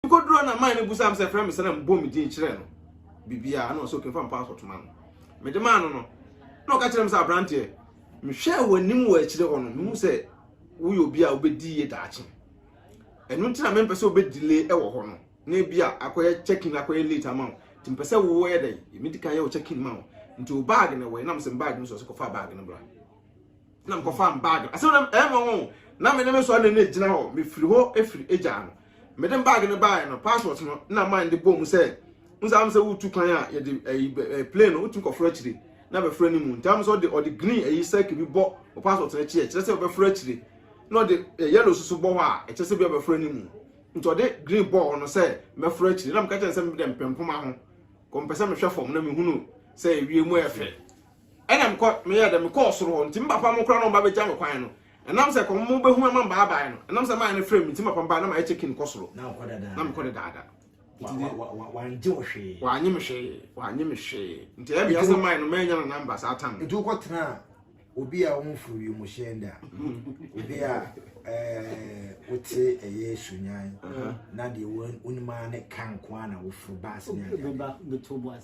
Mekɔduruu na man no busaa me sɛ frɛ me sɛ na mebɔ me din kyerɛ no biribiara na ɔsɛ okimfa me passport ma no. Mede maa no no na ɔka kyerɛ me sɛ aberanteɛ mehwɛɛ w'anim wɔ akyire hɔ no mehu sɛ woyɛ obi a wobɛdi yie daakye. Ɛno nti na mempɛ sɛ wobɛ delay wɔ hɔ no na ebi a akɔyɛ check-in akɔyɛ late ama wo nti mpɛ sɛ woyɛ dɛn medi kan yɛ wo check-in ma wo nti wo bag na ɛwɔ nam sɛ bag no so ɔsɛ kɔfa bag no bra. na mekɔfaa me baage asɛm na ɛyɛ me nwanwa o na me ne me sɔre ne gyina hɔ mefiri hɔ efiri egyaa no mede baage no baeɛ no passport no na man de bɔɔ mu sɛ nsa am sɛ wotu kwan a yɛde ɛyi eh, eh, plane no wotu kɔforo akyire na bɛforo ne mu nti am sɛ ɔde ɔde green ɛyi eh, circle bi bɔ wɔ passport no akyi ɛkyerɛ sɛ ɔbɛforo akyire na ɔde yellow soso bɔ hɔ a ɛkyerɛ sɛ bi ɔbɛforo ne mu nti ɔde green bɔ hɔ no sɛ mɛforo akyire na meka kyerɛ sɛ mede mpempoma ho kɔmpɛ sɛ mehwɛ fam na mehunu sɛ ewie mu ɛfɛ Ɛna mekɔ meyɛɛ dɛ mekɔɔ soro hɔ, ntsi me papa mo koraa na ɔmba begya me kwan no, nam sɛ kɔm mo behu ama mbaabae no, nam sɛ mayɛ no frɛ me ntsi me papa mbaa na mayɛ check in kɔ soro, na mekɔ dedaada. Ntsi de, wɔanngye wo hwee. Wɔanngye me hwee, wɔanngye me hwee, ntsi ɛyɛ me ya sɛ mae no meenya no number saa tam no. Ntsi wokɔ tsenaa obi a ɔmmforo wimuhyɛn da, obi a eh, wotse ɛyɛ sunyan, na deɛ wonim ara ne ka nko ara na woforo bus ne adeade.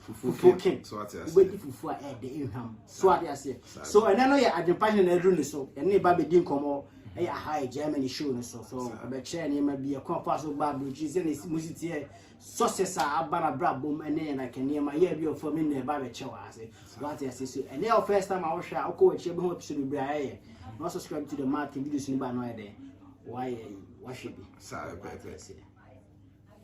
fufuo kem wobɛdi fufuo a ɛde nhwam so ade aseɛ so ɛnɛ no yɛ adwempa hene na aduru ne so ɛne ne ba bɛdi nkɔmmɔ ɛyɛ aha yɛ germany show no so so ɛbɛkyerɛ nneɛma bi ɛkwan fa so ba aburokyi sɛ ne mu siteɛ success a aba na bra bom ɛne yɛn aka nneɛma yɛ bi ɔfam ne nna ɛba bɛkyɛ wɔ ase wate ase so ɛne yɛ first time a wohwɛ a wokɔ wakyerɛ bi ho episode bebree a ɛyɛ na subscribe to the martin videos no ba no ayɛ dɛn wayɛ wahwɛ bi saa ɛpɛɛpɛ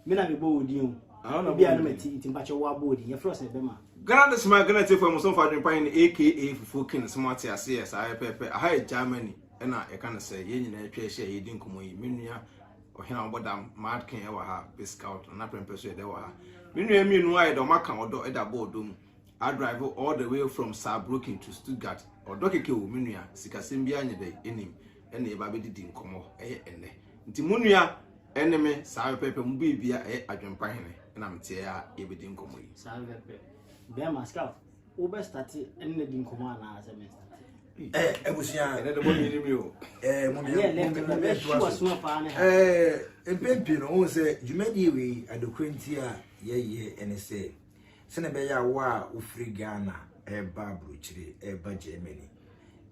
me na mebɔ wo din o ebi a no mati nti mpakyɛ wo abɔ din yɛfrɛ sɛ bɛma Ghana de soma Ghana tiefo mu sɔmfo adwene pan ne aka fufuo kin sɛ mo ate ase yɛ saa yɛ pɛpɛ aha yɛ Germany ɛna yɛka no sɛ yɛn nyinaa atwa ahyia yɛdi nkɔmɔ yi me nua ɔhene a ɔbɔ dam mad kin ɛwɔ ha pe scout na prɛmpɛ so yɛ dɛ wɔ ha me nua mmienu ayɛ dɛ ɔma ka ɔdɔ ɛda bɔ ɔdɔ mu I drive all the way from Saarbrücken to Stuttgart ɔdɔ keke o me nua sikasɛm biara nyɛ dɛ ɛnim ɛna yɛba abɛdidi nkɔmmɔ ɛyɛ ɛnɛ nti mo nua ɛne me saa pɛpɛpɛ mo biribia ɛyɛ adwempa hene ɛna meteɛ a yɛbɛdi nkɔmmɔ yi saa pɛpɛpɛ bɛrima scout wobɛ starte ɛne na di nkɔmmɔ anaa sɛ me starte abusua ɛnɛ de mo nyini mi o mpɛn pii no wohu sɛ dwumadie wei adekorɛ nti a yɛyɛ ɛne sɛ Sɛnea ɛbɛyɛ a wo a wofiri Ghana reba aburokyire, reba Germany,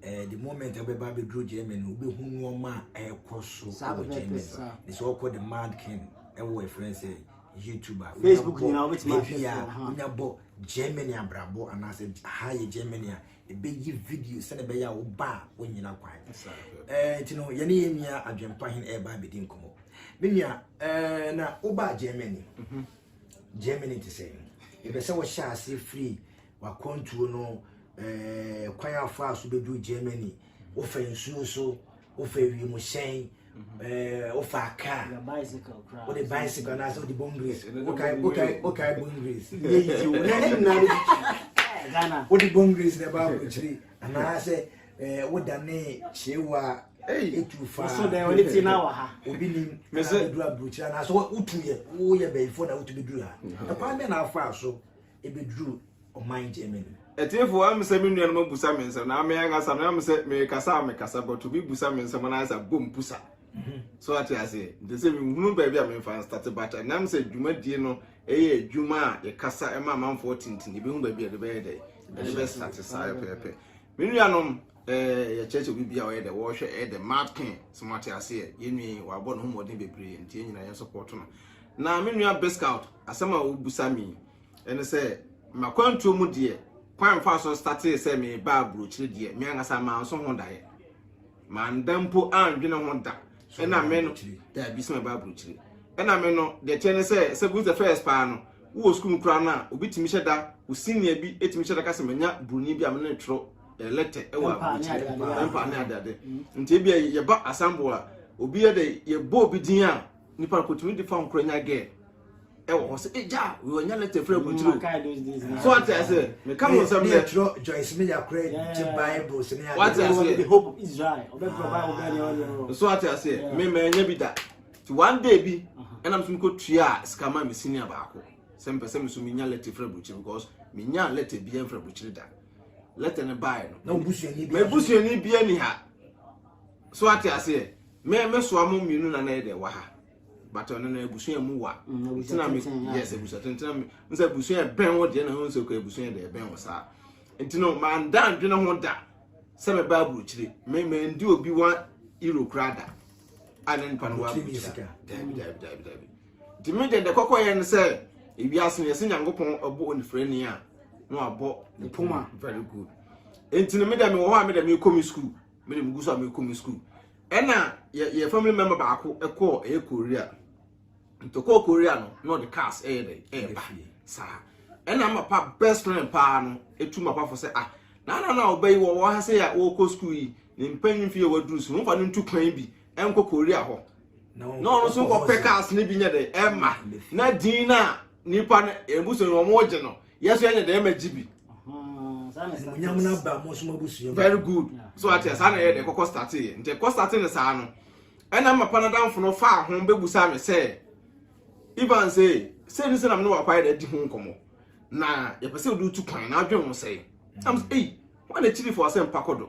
eh, the moment a wobɛba abɛduru Germany no, wobɛhu nneɛma a ɛrekɔ so Saa wɔ bɛbɛ Germany. pɛ saa. Ne sɛ wɔkɔ the Mad King ɛwɔ ɛfrɛ sɛ YouTube a. Facebook nyinaa wobɛtumi ahwɛ Baabi a so, aha. wonya bɔ Germany abrabɔ anaasɛ ha yɛ Germany a, ɛbɛyi video sɛnea ɛbɛyɛ a woba a wonyina kwan. Saa bɛbɛ. Eh, nti no yɛne yɛn nua adwempa hene ɛreba abɛdi nkɔmmɔ me nua eh, na wobaa germany Germany te sɛn? Yɛpɛ sɛ wohyɛ ase firi w'akwantuo no ɛɛ kwan afa so bɛduru Germany. Wofa nsuo so, wofa wiemhyɛn, ɛɛ wofa kaa, wode bicycle anaasɛ wode bone grease, wokae wokae wokae bone grease. Yɛ yi ti wo na ne nyinaa no bi. Wode bone grease na ɛba aburokyire anaasɛ ɛɛ wodane kyewa. etu fa so dɛ ɔne ti na wɔ ha obi ni na edu aburukyira na so wotu yɛ woyɛ bɛyifo na wotu bi duru ha ɛkwan bɛ na afa so ebi duru ɔman germany. ɛtiefo am sɛ me nua no ma busa me nsɛm na ame ankasa me am sɛ me kasa me kasa bɔto bi busa me nsɛm na ayɛsɛ bom pusa mhm. so ate aseɛ nti sɛ mehunu baabi a memfa nstate bata nam sɛ dwumadie no ɛyɛ adwuma a yɛkasa ɛma amanfoɔ tenten yɛbɛhu baabi a ɛde bɛyɛ dɛ ɛde bɛstate saa pɛpɛ me nuanom Eh, yɛkyerɛ sɛ obi bia a ɔyɛ dɛ wɔhwɛ ɛyɛ dɛ mad king sɛ moate aseɛ yɛnwii wabɔ ne ho mmɔden bebree nti yɛn nyinaa yɛn sɔpɔto no na me nua biscout asɛm a wobusa me ɛne sɛ makwantuo mu deɛ kwan mfa so statee sɛ mebaa burokyire deɛ me ankasa manso ho daeɛ manda mpo andwene ho da ɛna me no daabi sɛ mebaa burokyire ɛna me no deɛ teɛ ne sɛ sɛ who's the first paa no wowɔ sukuu mu koraa no a obi tumi hyɛ da wo senior bi tumi hyɛ da ka sɛ manya buroni bi a me ne twerɛ eh, lɛtɛ ɛwɔ aburukyire pɛmpa ne adeade nti ebi yɛba asambo a obi yɛ dɛ yɛbɔ obi din a nipa no kotumi de fa nkora nya gɛɛ ɛwɔ hɔ sɛ egya wɔ nya lɛtɛ fira aburukyire o so ate ase meka ho nsɛm dɛ ɛtwerɛ joyce mi yakora gye bible sini ade wate ase so ate ase mema ɛnya bi da ti one day bi ɛnam so mekɔ tua sika ma me sini baako sɛ mpɛ sɛ me so menya lɛtɛ fira aburukyire because menya lɛtɛ bi ɛmfira aburukyire da lɛtɛ no bae no na obusuani bi m'abusuani bi ani ha so ate aseɛ me me soa mo mmienu na na yɛ dɛ wɔ ha but ɔno no abusua mu wa mm, ntina me yes abusua ntina me n sɛ abusua ɛbɛn wo deɛ na ho nsɛ kɔ abusua deɛ ɛbɛn wo saa nti no manda adwene ho da sɛ mɛba aburokyire me mɛndi obi wa euro kora da a na nipa no wa aburokyire daabi daabi daabi daabi nti me deɛ deɛ kɔkɔyɛ no sɛ ewiase no yɛsɛ nyankopɔn ɛbɔ onifirani a na wabɔ ne poma very good nti no me deɛ mewɔ hɔ a me deɛ mekɔ me school me deɛ megu so a mekɔ me school ɛna yɛ yɛ family member baako ɛkɔɔ ɛyɛ korea nti ɔkɔɔ korea no na ɔde cars ɛyɛ dɛ ɛyɛ ba saa ɛna ama pa best friend paa no etu ma pa fo sɛ ah na na na ɔbɛyi wɔ wɔ ha sɛ yɛ wɔkɔ school yi ne mpanyin fi yɛ waduru so nfa no ntu kwan bi ɛnkɔ korea hɔ na ɔno nso kɔpɛ cars no bi nyɛ dɛ ɛma na din no a nipa no ebusu no wɔn gye no yɛsɔ yɛnyɛ dɛ ɛma gye bi. very good so ate saa na yɛ dɛ kɔkɔ starte yɛ nti kɔ starte no saa no ɛna mma panadamfo no faa ho bɛbusa me sɛ ivan sɛ sɛ ne sɛ nam ne wakɔ ayɛ dɛ di ho nkɔmmɔ na yɛpɛ sɛ wode tu kwan na adwene ho sɛe am sɛ ei wane kyiri fo asɛm pa kɔdɔ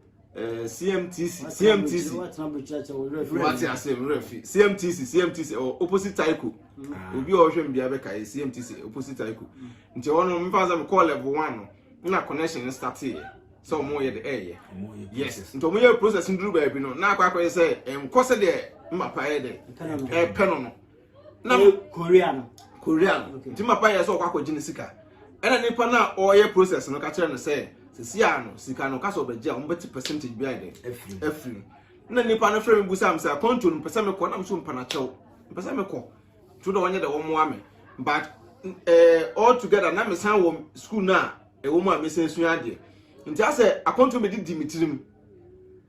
Eh, CMTC, CMTC. Wati ase mmerɛ fi CMTC, CMTC ɛwɔ oh, opposite Taiko. Ah. Obi a ɔhwɛ mbea bɛka yɛ CMTC eh, opposite Taiko. Nti ɛwɔ no mfa sɛ mekɔɔ level one no na connection no start yɛ sɛ ɔmo yɛ de ɛyɛ. Yes, nti ɔmo yɛ process nduru baabi no na akɔ akɔyɛ sɛ ɛnkɔ sɛ deɛ mmapa yɛ dɛ ɛpɛ no no. na korea no korea no nti ma pa yɛ sɛ ɔkɔ akɔgye ne sika ɛna nipa no a ɔyɛ process no ka kyerɛ no sɛ sisi a no sika no kasa ɔbɛgye a wɔbɛte percentage bi ayɛ dɛ afiri na nipa no frɛ me bu sam sɛ akɔntuo no mpɛ sɛ mekɔ nam so mpanakyɛw mpɛ sɛ mekɔ to dɛ wɔnyɛ dɛ wɔmmoa me but uh, all together na mesan wɔ school no a ɛwɔ mu a mesan sua adeɛ nti asɛ akɔntuo mede di me tirim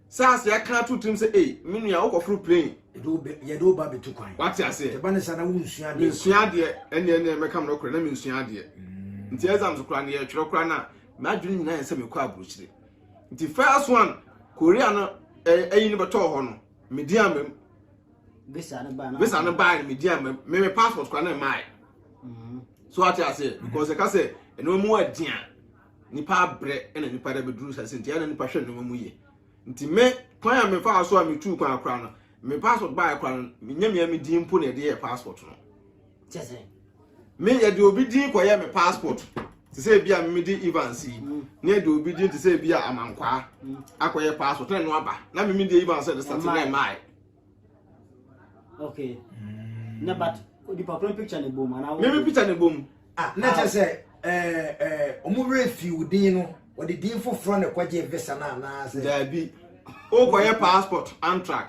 SARS yɛ aka ato tirim sɛ ei me nua wokɔforo plane. Yɛde wo bɛ yɛde wo ba bɛtu kwan. Wate aseɛ. Yɛba ne saa na wonsua adeɛ. Mensua adeɛ ɛne ɛne mɛkam no korɛ na mensua adeɛ. Mm. Nti exams koraa no yɛtwerɛ koraa no a m'adwene nyinaa yɛ sɛ mekɔ aburokyire. Nti first one Korea no ɛyi no bɛtɔɔ hɔ no medi ama mu. Visa no baa no. Visa no baa no medi ama mu. Me me passport koraa no mmae. Mm. So wate aseɛ because ɛka sɛ ɛnoma mu adeɛ a nipa abrɛ ɛna nipa da bɛduru sase nti ɛna nipa hwɛ nneɛma mu yie nti me kwan a mefa so a metu kwan akora no me passport baeɛ kora no menyɛ mea me din mpo na ɛde yɛ passport no me yɛde obi din kɔyɛ me passport te sɛ bi a memedi evans yi mm. ne yɛde obi din te sɛ bi a amankwaa mm. akɔyɛ passport na ɛno aba na memedi evans ɛde sate na ɛmae okay mm. na but onipa koro picture ne bom anaa meme picture ne bom ah na kyɛ sɛ eh, eh, ɔmo werɛ fi wo din no wɔde din foforɔ na ɛkɔgye visa no anaasɛ daabi wokɔyɛ passport antrak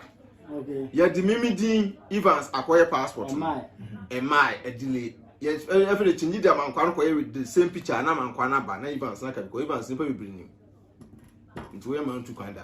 yɛde mimi din evans akɔyɛ passport no ɛmae ɛdile ɛfɛ de kyingyi de amankwa no kɔyɛ with the same picture na amankwa no aba na evans na kabikɔ evans nipa bebree nim nti woyɛ ma no tu kwan da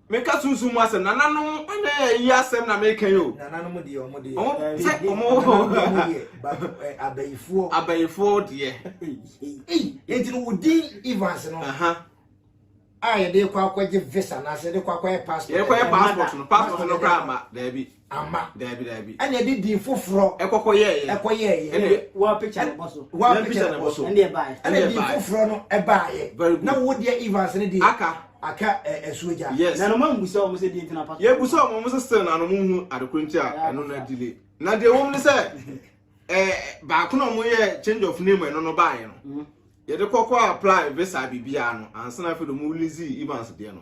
Meka sunsun mu asɛm, nananom ne ɛyi asɛm na meka yi o. Nananom deɛ ɔmo deɛ. Ɔmo eh, sɛ ɔmo eh, abayifoɔ. Abayifoɔ deɛ. Eti no wodin Evans no. A yɛde kɔ akɔgye visa na sɛ yɛde kɔ akɔyɛ passport. Yɛde kɔyɛ passport no passport no koraa ma daabi. amma. Daabi, daabi. Ɛna ɛde din foforɔ. Ɛkɔkɔyɛɛyɛ. Ɛkɔyɛɛyɛ. Ɛna wɔapagya ne bɔ so. Wɔapagya ne bɔ so. Ɛna ɛbaeɛ. Ɛna din foforɔ no ɛbaeɛ. Very good. Na wo deɛ Evans ne deɛ. Aka. Aka ɛsuo gya. Yes. Na noma mbusa wɔn sɛ din tena pa so. Yɛ busa wɔn wɔn sɛ still na wɔn hu adekoro nti a ɛno na delay. Na deɛ wɔn ne sɛ ɛɛ baako na wɔn yɛ change of name ɛno no baeɛ no. Mm-hmm. Yɛde kɔkɔ apply visa biribiara no ansa na afei de wɔn release Evans deɛ no.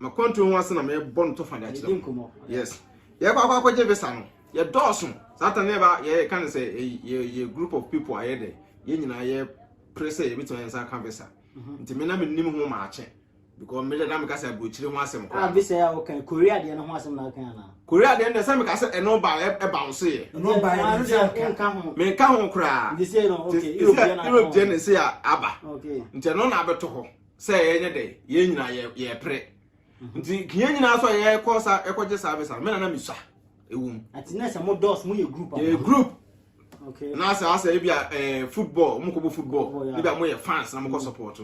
makwantuo ho ase na mebɔ no tɔfa de akyerɛ mu yes yɛkɔ akɔ akɔgye visa no yɛdɔɔso saa ta ne ba yɛka no sɛ yɛ group of people ayɛ dɛ yɛn nyinaa yɛ pere sɛ yɛbɛtumi nsa ka visa mhm. nti me na menim ho maakye because me na meka sɛ aburokyire ho asɛm kɔ ah visa yɛ wokan korea deɛ no ho asɛm na wokan anaa korea deɛ no sɛ meka sɛ ɛno ba ɛba wo so yɛ ɛno ba yɛ menka ho koraa europe deɛ no sɛ aba nti ɛno na abɛto hɔ sɛ yɛnyɛ dɛ yɛn nyinaa yɛ yɛpere mhm. nti yɛn nyinaa so a yɛkɔ sa ɛkɔgye service a me nana mesua ɛwɔ mu ɛti na sɛ mo dɔs mo yɛ group yɛ group na sɛ asɛ ebi a eh, football mo kɔ bɔ football ebi a mo yɛ fans na mo kɔ mm. support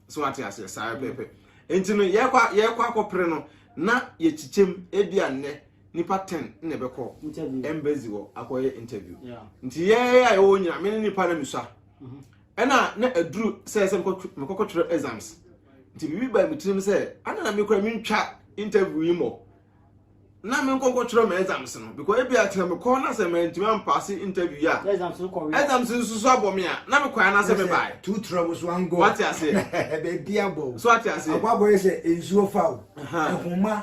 so ate aseɛ saa mm. pɛpɛ nti no yɛkɔ yɛkɔ akɔpere no na yɛkyikyɛm ebi a nnɛ nipa ten na ɛbɛkɔ embassy wɔ akɔyɛ interview nti yɛyɛ a yɛwɔ nyina me ne nipa na mesua mhm. ɛna na aduru sɛ sɛ mekɔkɔtwerɛ exams nti biribi baa me tirim sɛ ana na mekora mentwa interview yi mmɔ na me nkɔ nkɔtwerɛ ma exams no because ebi atena me kɔn na sɛ mantumi ampaase interview yi a exams no kɔwe exams nso so abɔ me a na me kɔɛ na sɛ me bae tu tura wo so angɔ wate aseɛ baabi abɔ so ate aseɛ abɔ abɔ yɛ sɛ nsuo fa wo ɛhoma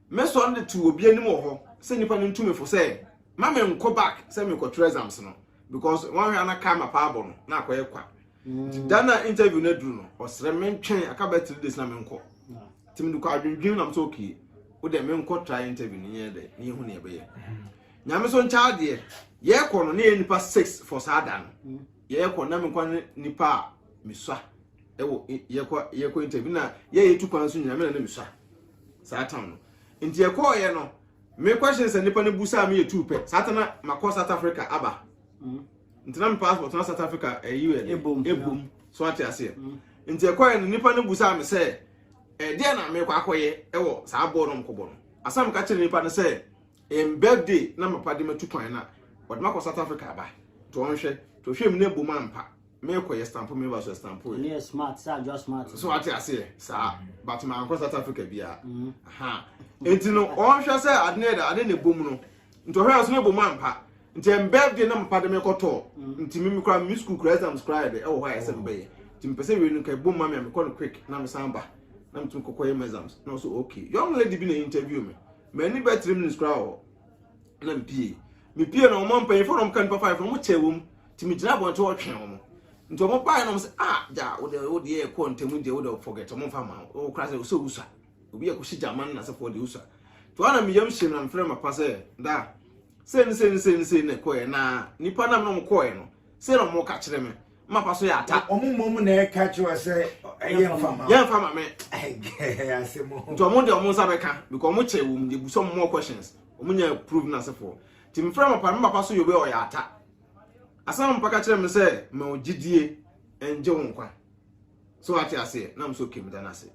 mɛsɔre de to obi anim wɔ hɔ sɛ nipa no ntu me fo sɛ ma me nkɔ back sɛ mekɔtwerɛ exams no because wɔnhwɛ ana kaa ma paa bɔ no na akɔyɛ kwa nti da na interview no aduru no ɔsrɛ mentwɛn aka bɛ three days na menkɔ nti mede kɔ adwendwen nam sɛ okay wode menkɔ try interview no nyɛ dɛ ne yɛhu ne ɛbɛyɛ nyame so nkyɛ adeɛ yɛkɔ no ne yɛ nipa six for saa da no yɛkɔ na menkɔ ne nipa a mesua ɛwɔ yɛkɔ yɛkɔ interview na yɛyɛ tu kwan so nyina mena ne mesua Saa tam no nti ɛkɔɔ yɛ no me question sɛ nipa no bu saa me yɛ tuu pɛ saa tana makɔ South Africa aba mm. nti na me passport na South Africa ɛyi eh, yɛ ebom ebom so ate aseɛ mm. nti ɛkɔɔ yɛ no nipa no bu saa me sɛ ɛdeɛ eh, na mekɔ akɔyɛ ɛwɔ saa bɔɔl no mkɔbɔ no asam ka kyerɛ nipa no sɛ Em birthday na mapa de matu kwan na ɔde makɔ South Africa aba. To ɔnhwɛ, to hwɛ mu na bom ampa. Mekɔ yɛ stampo me ba so stampo yɛ. Ne smart sa adwa smart. So ate ase yɛ saa but ma ankɔ South Africa bia. Mm. Ha. Enti no ɔnhwɛ sɛ ade ne da ade ne bom no. Nti ɔhwɛ so ne bom ampa. Nti em birthday na mapa de mekɔ tɔ. Mm. Nti me kura me school kura exams kura yɛ de ɛwɔ hɔ a ɛsɛ mbɛyɛ. Nti mpɛ sɛ wie no kai bom ma me a mekɔ no quick na me san ba. Na mtum kɔkɔ yɛ exams. Na ɔso okay. Young lady bi na interview me. M'ani bɛyɛ three minutes koraa wɔ hɔ na mepie. Mepie no wɔn mpanyinfoɔ na wɔn ka nipa five na wɔn kyɛɛ wɔn nti me gyina abɔnten wɔtwɛn wɔn. Nti wɔn baeɛ na wɔn sɛ ah gya wo deɛ wo deɛ ɛkɔ ntɛm deɛ wo deɛ forget wɔn nfa ma wo kora sɛ ɔsɛ owusa obi yɛ kɔsi gyama no n'asefoɔ deɛ owusa. Nti wɔn na me yam hyɛ mu na mefrɛ ma pa sɛ da sɛ ne sɛ ne sɛ ne sɛ na ɛkɔɛ na nipa nam na wɔn kɔɛ no sɛ na wɔn ka kyerɛ me mmapa so yɛ ata. wɔn mmom na ɛka kyerɛ sɛ ɛyɛ nfa ma. yɛ nfa ma me. ase mu. nti wɔn de wɔn nsa bɛka because wɔn kyɛ wɔn de bu some more questions wɔn nya proof na asefoɔ ti mi fira mmapa mmapa so yɛ obi ɔyɛ ata asan mmapa ka kyerɛ mi sɛ ma o gyidie ɛngye wɔn kwa so ate aseɛ na mo so kemi da n'ase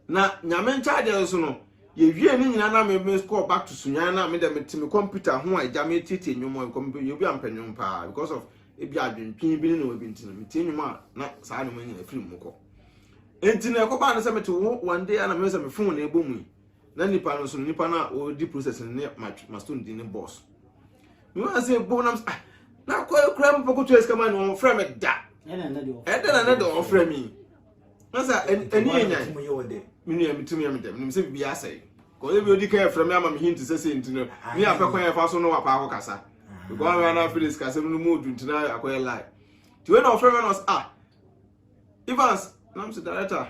na nyame nkyaadeɛ so no yɛwie ne nyinaa na me me call back to sunyan na me dɛ me te me computer ho a agya me tietie nnwom a nkɔm yɛ obi ampɛ nnwom paa because of ebi adwentwene bi ne na wabi nti no metie nnwom a na saa nnwom nyina firi mu kɔ nti na ɛkɔbaa no sɛ mete wo one day a na mehwɛ sɛ me fon na ɛbɔ mu yi na nipa no nso nipa no a ɔredi process no ne ma stone di ne boss mewɔ sɛ ɛbɔ nam ah na kɔ kura mu pɔkɔtua sika ma no ɔmfrɛ me da ɛdɛ na na de ɔfrɛ me Nasa ɛni yɛ nyan. Mo yɛ wɔ dɛ. Mi nua mi tumi yɛ mi dɛ. Nim sɛ bibi asɛ. Kɔyɛ bi odi kan efra mi ama mi hinti sɛ sɛ nti no. Ni ah, apɛ kwan yɛ fa so no wapa akɔ kasa. Because ah. mi ana Felix kasa mi no mu odu ntina akɔyɛ lie. Ti wei na ɔfrɛ mi na ɔsɛ ah. Evans na mi sɛ director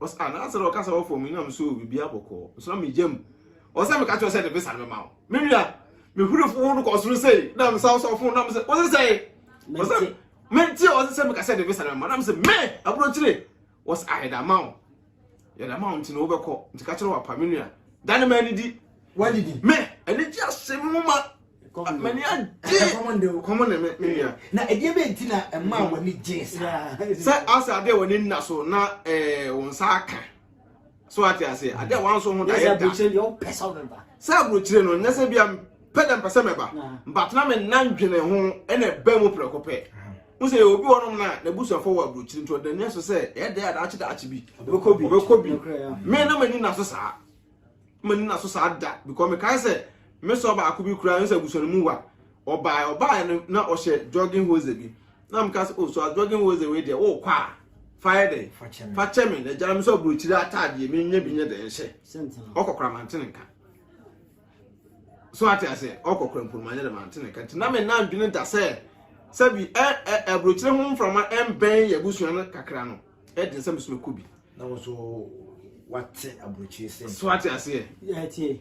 ɔsɛ ah na asɛ dɛ ɔkasa wɔ fam yi na mi so bibi abɔkɔ. Nso na mi gyam. Ɔsɛ mi kakyɛ ɔsɛ de bisa mi ma o. Mi nua mi huri fo no kɔ soro sei na mi sa ɔsɔfo na mi sɛ ɔsɛ sɛ ɔsɛ. Mente ɔse sɛ meka sɛ de visa na ma na mse me abrokyire was a yɛda ma wo yɛda ma wo nti na wobɛkɔ nti ka kyerɛ wo apa me nua da ne ma anidi wadidi me ɛne gye ahyɛ me mu ma mani agye kɔmɔ ne me nua na ɛdeɛ bɛ nti na ɛma w'ani gye saa sɛ asa adeɛ w'ani nna so na eh, wo nsa aka so ate ase ade a wanso ho daeɛ da sɛ aburokyire no nyɛ sɛ bia pɛ dɛ mpɛ sɛ mɛba but na menna ndwene ho ɛna ɛba mu prɛko pɛ wo sɛ obi wɔnom no a n'abusuafoɔ wɔ aburokyire nti ɔda nua so sɛ ɛyɛ dɛ a daakye daakye bi ɔbɛkɔ bi me na m'ani na so saa m'ani na so saa da because mekae sɛ me sɔ baako bi koraa sɛ abusua no mu wa Ɔbae ɔbae no na ɔhyɛ jogging hose bi na meka sɛ oh so a jogging hose wei deɛ wokɔ a fa yɛ dɛn fa kyɛ me na gyina me sɛ aburokyire ataadeɛ menyɛ bi nyɛ dɛn hyɛ ɔkɔkora mantene nka so ate aseɛ ɔkɔkora mpo manyɛ dɛ mantene nka nti na me na ndwene da sɛ sɛbi aburokyire ho mframa ɛmbɛn yɛ abusua no kakra no ɛden sɛ mesome kɔ bi na wo so wate aburokyire sɛ so ate aseɛ yɛtie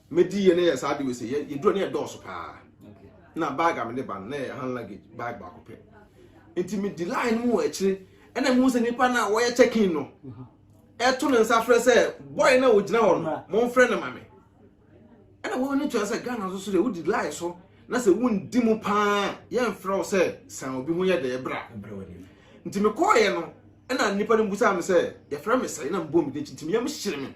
Medi yɛ ne yɛ saa de wese yɛ yɛ duro ne yɛ dɔɔso paa na bag a mede ba no na yɛ hand luggage bag baako pɛ nti medi line mu wɔ akyire ɛna mu sɛ nipa na wɔyɛ check in no ɛto ne nsa frɛ sɛ boy na ogyina hɔ no mo nfrɛ ne ma me ɛna wɔn ani tua sɛ Ghana nso so deɛ wodi line so na sɛ wondi mu paa yɛmfrɛ wo sɛ san obi ho yɛ dɛ bra nti mekɔɔyɛ no ɛna nipa no busa me sɛ yɛfrɛ me sɛ na mbɔ me de nti meyam hyere me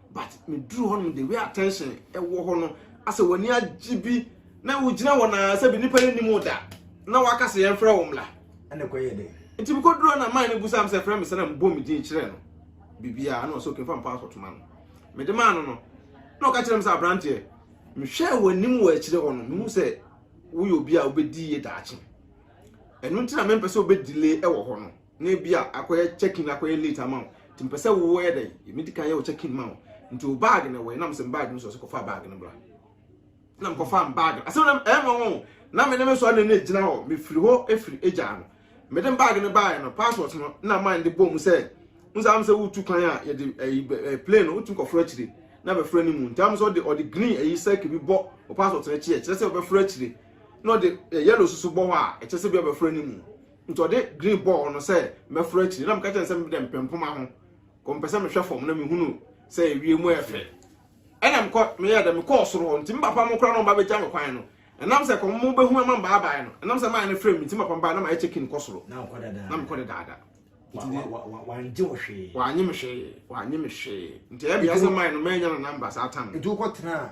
but me duru hɔ nom the way attention ɛwɔ hɔ no asɛ w'ani agye bi na wogyina hɔ na sɛ bi nipa yɛ nim da na waka sɛ yɛn frɛ wɔn mla ɛna kɔ yɛ dɛ nti bi kɔ duru na man ne bu sam sɛ frɛ me sɛ na mbɔ me din kyerɛ no bibia na ɔsɛ okin fa mpa asɔtoma no me de maa no no na ɔka kyerɛ me sɛ abranteɛ mehwɛ w'anim wɔ akyire hɔ no mehu sɛ woyɛ obi a wobɛdi yie daakye ɛno nti na mempɛ sɛ wobɛdile ɛwɔ hɔ no na ebi a akɔyɛ check-in akɔyɛ late ama wo nti mpɛ sɛ woyɛ dɛ yɛmi di kan yɛ wo check-in ma wo nti wo bag na wɔyɛ nam sɛ bag no so ɔsɛ kɔfa bag no bra na mkɔfa m bag asɛm na ɛma wɔn na me ne me sɔre ne gyina hɔ mefiri hɔ efiri egya no mede bag no baeɛ no passport no na man de bɔ mu sɛ n sɛ am sɛ wotu kwan a yɛde ɛyi eh, eh, plane no wotu nkɔforo akyire na bɛforo ne mu nti am sɛ ɔde ɔde green ɛyi sɛke bi bɔ o passport no akyi ɛkyerɛ sɛ ɔbɛforo akyire na ɔde eh, yellow soso bɔ hɔ a ɛkyerɛ sɛ bi ɔbɛforo ne mu Nti ɔde green bɔɔ no sɛ mɛforo akyiri na meka kyerɛ no sɛ mede mpɛ mpoma ho kɔ mpɛ sɛ mehwɛ fam na mehunu sɛ ewie mu ɛfɛ ɛna mekɔ meyɛ dɛ mekɔɔ soro hɔ nti mpapa mo kora no ɔba bɛgya me kwan no ɛnam sɛ kɔn mo bɛhu ama mbaabae no ɛnam sɛ maa no frɛ me nti mpapa mbaa na mayɛ check in kɔ soro na mekɔ dedaada wanye wo hwee wanye me hwee wanye me hwee nti ɛyɛ meyɛ sɛ maa no manya no namba saa tam nti wokɔ tena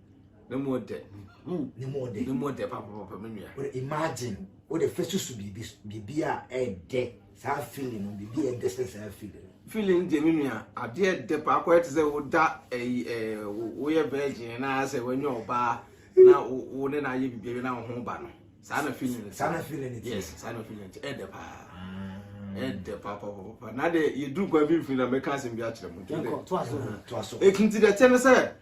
ne mu dɛ ne mu dɛ ne mu dɛ papapapa me nua o imagine o de fɛ susu biribi biribi a ɛdɛ saa feeling no biribi a ɛdɛ sɛ saa feeling feeling deɛ me nua adeɛ dɛ paako ɛte sɛ woda ɛyi ɛɛ woyɛ virgin na sɛ wanya ɔbaa na wo ne na ayɛ biribi na wo ho ba no saa na feeling no saa na feeling no yes saa na feeling no ɛdɛ paa ɛdɛ paapapapa na deɛ yɛduru kwan bi mfiri na mɛka asɛm bi akyerɛ mu nti dɛ ɛkinti dɛ kyɛ no sɛ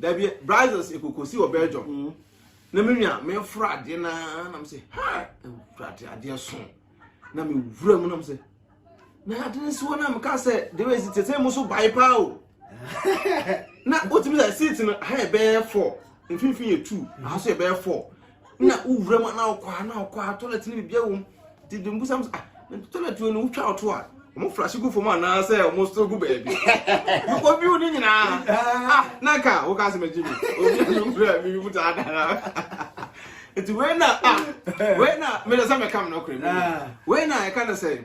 Dabi brazos ekokosi wɔ Belgium. Na me nua me fura adeɛ na na me se ha fura adeɛ adeɛ so. Na me wura mu na me se na ade ne so na me ka se de we si tete mu so bai pa o. Na otimi sɛ seat no ha yɛ bɛyɛ 4, mfimfini yɛ 2, aha so yɛ bɛyɛ 4. na wowura mu na wokɔ a na wokɔ a toilet no biribiara wɔ mu nti de mbusam sɛ ah toilet no wotwa ɔto a wɔn flashe gu fam anaasɛ wɔn so gu baabi wokɔ view ne nyinaa ah na ka woka asɛm agyi mi obi a mewura mi mu taa dara nti wei na ah wei na mede sɛ mɛka me nɔkorɛ mu wei na ɛka no sɛ